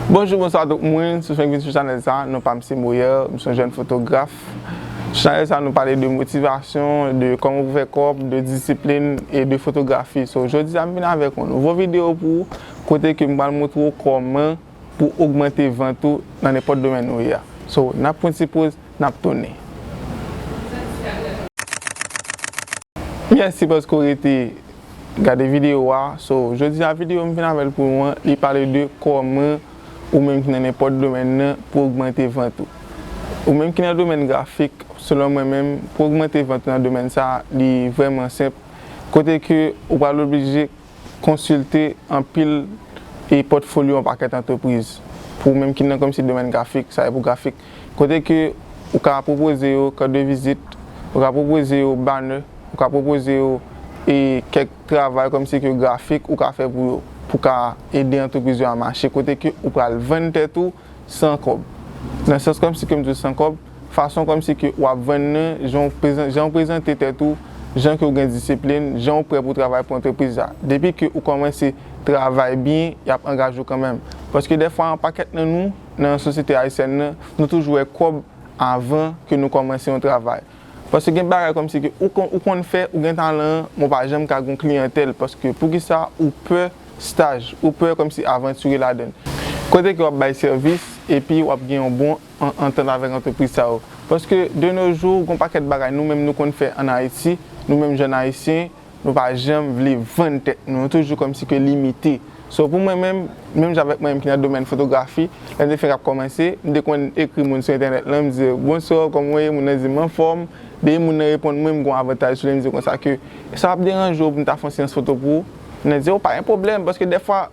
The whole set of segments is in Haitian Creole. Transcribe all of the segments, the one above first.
Bonjou bonswa a tout moun, si w fenk vin sou chanèl sa, non pa m se Moyer, m son jèn fotograf. Sou chanèl sa nou pale de motivasyon, de kòman pou fè kòb, de disiplin e de fotografi. So jodi a m vin avèk yon nouvo videyo pou ou, kote ke m pral montre w kòman pou w ogmante vant ou nan nenpòt domèn ou ye a. So n ap pran ti poz, n ap tounen. Mèsi paske w rete. Gade video wa. So, jodi a video m vin avèl pou nou an, li pale de kòman ou menm ki nan nenpòt domèn nan pou ogmante vant ou. Ou menm ki nan domèn grafik, selon mwen menm, pou ogmante vant ou nan domèn sa a, li vrèman senp, kote ke ou pral oblije konsilte anpil e pòtfolyo yon pakèt antrepriz. Pou ou menm ki nan kòmsi domèn grafik, sa e pou grafik. kote ke ou ka pwopoze yo carte de visite, ou ka pwopoze yo banner, ou ka pwopoze yo e kèk travay kòm si ke grafik ou ka fè pou yo, pou ka ede antrepriz yo a mache, kote ke ou pral vann tèt ou san kòb, nan sans kòm si ke m di w san kòb, fason kòm si ke wap vann nan jan w prezan, jan w prezante tèt ou, jan ke w gen disiplin, jan w prè pou travay pou antrepriz la, depi ke ou kòmanse travay byen yap angaje w kanmenm, paske dèfwa an pakèt nan nou. nan sosyete ayisyèn nan, nou toujou wè kòb avan ke nou kòmanse yon travay. Paske gen bagay kòmsi ke ou konn ou konn fè, ou gen talan an, men w pa janm ka gen yon kliyantèl paske poukisa ou pè staj, ou pè kòmsi avantire ladan l. Kote ke w ap bay sèvis epi w ap gen yon bon antant avèk antrepriz sa yo. Paske de no jou gen yon pakèt bagay nou menm nou konn fè an Ayiti, nou menm jèn ayisyen, Nou pa janm vle vann tèt nou, nou toujou kòmsi ke limite. So pou mwen menm, menm jan avèk mwen menm ki nan domèn fotografi, lè m te fenk ap kòmanse, m te konn ekri moun sou entènèt lan, m di yo, Bonswa, kòman w ye? Moun nan di m, M anfòm. Depi moun nan reponn mwen, m gon avantaj sou li, m di yo konsa ke, Èske sa pap deranje w pou m ta fè yon seyans foto pou ou? Moun nan di, O, pa gen pwoblèm, paske dèfwa.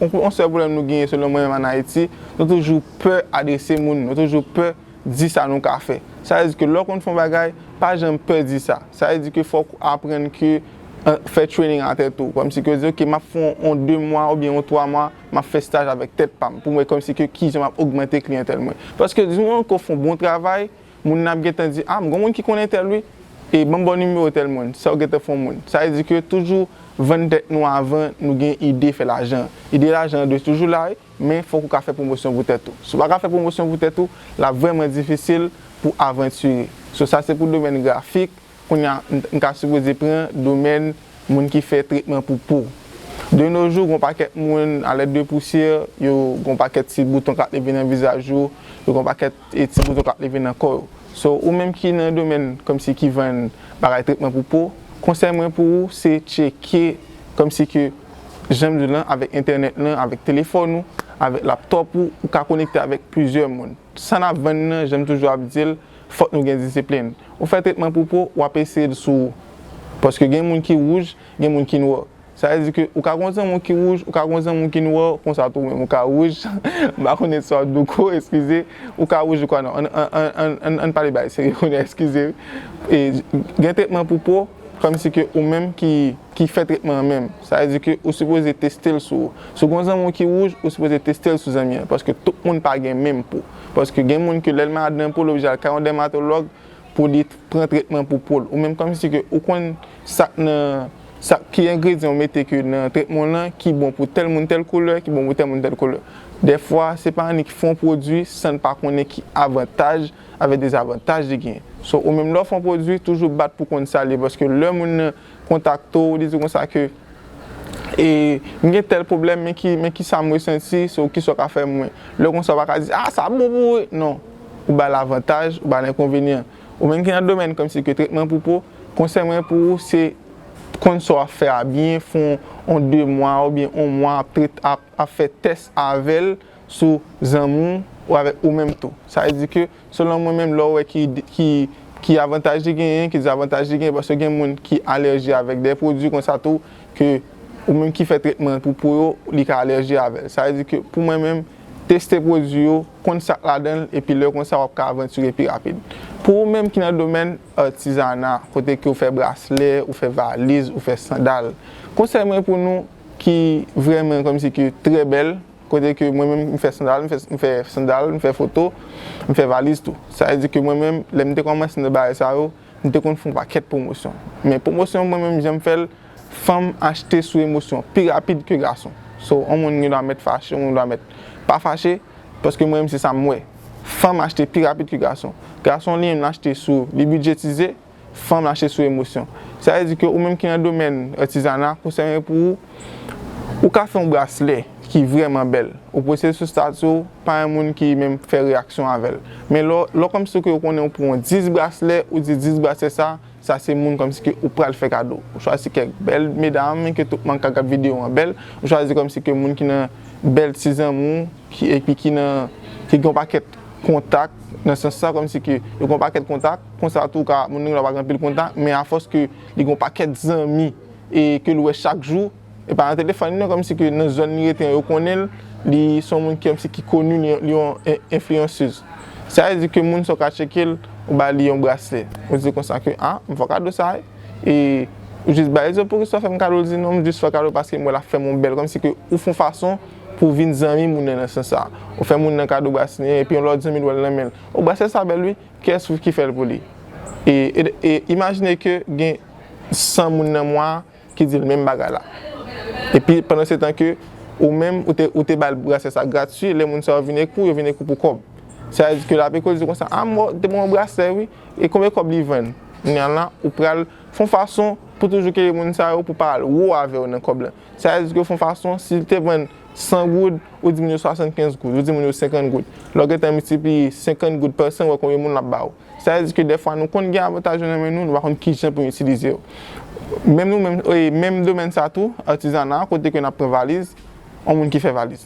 Yon sèl pwoblèm nou genyen selon mwen menm an Ayiti, nou toujou pè adrese moun, nou toujou pè di sa nou ka fè. Sa vle di ke lè w konn fè yon bagay, pa janm pè di sa. Sa vle di ke fòk ou aprann ke fè training a tèt ou. Kòmsi ke w di ok map fè yon 2 mwa oubyen yon 3 mwa map fè staj avèk tèt pa m pou m wè kòmsi ke kijan map ogmante kliyantèl mwen. Paske di moman ke w fè yon bon travay, Moun nan ap gentan di ah m gon moun ki konnen tèl wi e banm baw nimewo tèl moun sa ou gentan fon moun sa vle di ke toujou vann tèt nou avan nou gen ide fè lajan an ide lajan an dwe toujou la wi men fòk ou ka fè pwomosyon pou tèt ou si ou pa ka fè pwomosyon pou tèt ou lap vrèman difisil pou avantire so sa se pou domèn grafik kounye a m ka sipoze pran domèn moun ki fè tretman pou po de no jou gon pakèt moun a lèt de pousyè yo gon pakèt ti bouton kap leve nan vizaj yo yo gon pakèt. e ti bouton kap leve nan kò yo so ou menm ki nan domèn kòmsi ki vann bagay tretman pou po konsèy mwen pou ou se tcheke kòmsi ke janm diw lan avèk entènèt lan avèk telefòn ou avèk laptòp ou ou ka konekte avèk plizyè moun sa nap vann nan janm toujou ap dil fòk nou gen disiplin ou fè tretman pou po wap eseyel sou ou paske gen moun ki wouj gen moun ki nwa. Sa vle di ke ou ka gen yon zanmi w ki wouj, ou ka gen yon zanmi w ki nwa, konsa tou ou menm ou ka wouj, m pa konnen sa w douko, eskize, ou ka wouj ou ka nwa. An, an pale bagay serye kounye a, eskize wi. E, gen tretman pou po, kòmsi ke ou menm ki, ki fè tretman an menm. Sa vle di ke ou sipoze teste l sou ou. Si w gen yon zanmi w ki wouj, ou sipoze teste l sou zanmi an, paske tout moun pa gen menm po. Paske gen moun ke lè l malad nan po l oblije al kay yon dèmatològ, pou li pran tretman pou poul ou menm kòmsi ke ou konn sak nan sak ki engredyan ou mete ke nan tretman w lan ki bon pou tèl moun tèl koulè ki bon pou tèl moun tèl koulè dèfwa se pa annik fon pwodwi san n pa konnen ki avantaj avèk dezavantaj li gen so ou menm lè w fon pwodwi toujou bat pou konn sa l ye paske lè moun nan kontakte w li di w konsa ke e m gen tèl pwoblèm men ki men kisa m resenti so kisa w ka fè mwen lè konsa w pa ka di a sa bon pou ou non ou ba l avantaj ou ba l enkonvenyan ou menm ki nan domèn kòmsi ke tretman pou po konsèy mwen pou ou se konn sa w ap fè a byen fè yon 2 mwa oubyen yon mwa ap trete ap fè tès avè l sou zanmi w ou avèk ou menm tou sa vle di ke. Selon mwen menm lè w wè ki ki avantaj li genyen, ki dezavantaj li genyen paske gen moun ki alèji avèk dè pwodui konsa tou ke ou menm ki fè tretman an pou po yo li ka alèji avè l. Sa vle di ke pou mwen menm teste pwodui yo, konn sa k ladan l epi lè konsa w ap ka avantire pi rapid. Pou ou menm ki nan domèn atizana kote ke ou fè braslè, ou fè valiz, ou fè sandal, konsèy mwen pou nou ki vrèman kòmsi ke trè bèl, Kote ke mwen menm m fè sandal, m fè sandal, m fè foto, m fè valiz tou. Sa vle di ke mwen menm, lè m te kòmanse nan bagay sa yo, m te konn fè yon pakèt pwomosyon. Men pwomosyon mwen menm jan m fè l, fanm achte sou emosyon pi rapid ke gason. So, yon moun gen dwa mèt fache, yon moun gen dwa mèt pa fache, paske mwen menm se sa m wè. Fanm achte pi rapid ke gason. Gason li menm l achte sou li bidjetize, Fan mache sou emosyon. Sa vle di ke ou menm ki nan domèn atizana, konsèy mwen pou ou, ou ka fè yon braslè ki vrèman bèl, ou poste l sou stati w, pa yon moun ki menm fè reyaksyon avè l. Men lè w kòmsi ke ou konnen ou pran 10 braslè, ou di 10 braslè sa, sa se moun kòmsi ke ou pral fè kado. Ou chwazi kèk bèl medam ke tout moun ka gad videyo an bèl, ou chwazi kòmsi ke moun ki nan bèl ti zanmi w, epi ki nan, ki gen yon pakèt kontak nan sans sa kòmsi ke yo gen yon pakèt kontak konsa tou ka moun nan gen dwa pa gen anpil kontak men afòs ke li gen yon pakèt zanmi e ke l wè chak jou e pa nan telefòn li non kòmsi ke nan zòn li rete an yo konnen l li se yon moun kòmsi ki koni li li yon enfliyansez sa vle di ke moun sa w ka tcheke l ou ba li yon braslè ou di konsa ke a m fè w kado sa e ou jis ba li di w poukisa w fè m kado l di non m jis fè w kado paske m wè l ap fè m yon bèl kòmsi ke ou fè yon fason. Pou vin zanmi moun nan nan sans sa. Ou fè moun nan kado brasnè epi yon lòt zanmi l wè l nan men l. O brasnè sa bèl wi, kiyès ki fè l pou li? E imajine ke gen 100 moun nan mwa a ki di l menm bagay la. Epi pandansetan ke ou menm ou te ba l brasnè sa grati, lè moun sa yo vin ekri w, yo vin ekri w pou kòb. Sa vle di ke l ap ekri w di w konsa, a m te ban w yon brasnè wi, e konbyen kòb li vann? Kounye a la, ou pral fè yon fason pou toujou ke moun sa yo pou pa al wo avè w nan kòb la. Sa vle di ke fon fason, si li te vann 100 goud, ou di moun yo 75 goud, ou di moun yo 50 goud. Lè w gen tan miltipliye 50 goud pa 100, wè konbyen moun l ap ba ou. Sa vle di ke dèfwa nou konn gen avantaj yo nan men nou, nou pa konn ki jan pou nou itilize yo. Menm nou menm, menm domèn sa tou, atizana, kote ke n ap pran valiz, yon moun ki fè valiz.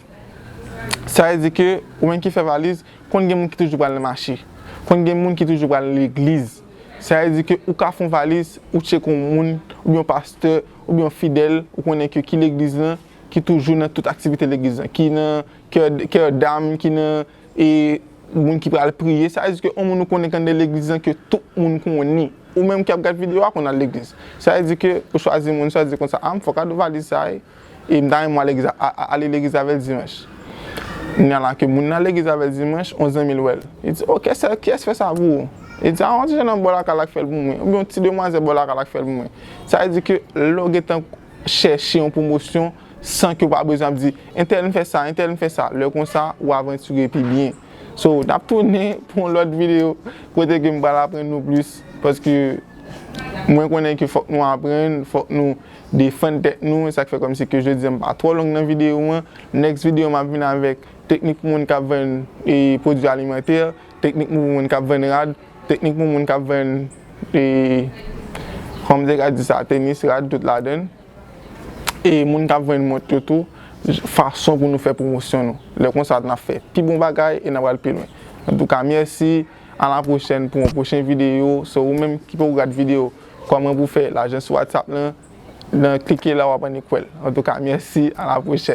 Sa vle di ke ou menm ki fè valiz, konn gen moun ki toujou pral nan mache. Konn gen moun ki toujou pral legliz. Sa vle di ke ou ka fè yon valiz, ou tcheke yon moun, oubyen yon pastè, oubyen yon fidèl, ou konnen ke ki legliz lan, ki toujou nan tout aktivite legliz lan, ki nan kè dam, ki nan e moun ki pral priye. Sa vle di ke yon moun ou konnen ki anndan legliz lan ke tout moun konnen. Ou menm ki ap gad video a konn al legliz. Sa vle di ke ou chwazi moun, chwazi konsa, a m fòk al valiz sa wi. E m ta renmen w ale legliz avè l dimanch. Kounya la ke moun nan legliz avè l dimanch, yon zanmi l wè l. Li di, O, kiyès ki fè sa pou ou? Li di, A, yon ti jènòm bò lakay la ki fè l pou mwen. Oubyen yon ti demwazèl bò lakay la ki fè l pou mwen. Sa vle di ke lè w gen tan chèche yon pwomosyon san ke w pa bezwen ap di, Entèl m fè sa, entèl m fè sa. Lè konsa, ou avantire pi byen. So, n ap tounen pou yon lòt videyo kote ke m pral aprann nou plis paske mwen konnen ke fòk nou aprann, fòk nou. defann tèt nou esak fè kòmsi ke jodi an pa twò long nan video an next video map vin avèk teknik pou moun kap vann pwodwi alimantè teknik pou moun kap vann rad teknik pou moun kap vann kòm te ka di sa tenis rad tout ladann e moun kap vann mont yo tou fason pou nou fè pwomosyon nou lè konsa nap fè pi bon bagay e nap al pi lwen antouka mèsi a la pwochèn pou yon pwochen video se ou menm ki poko gad video. Koman pou fè lajan sou WhatsApp lan nan klike la wap annik wèl antouka mèsi a la pwochèn.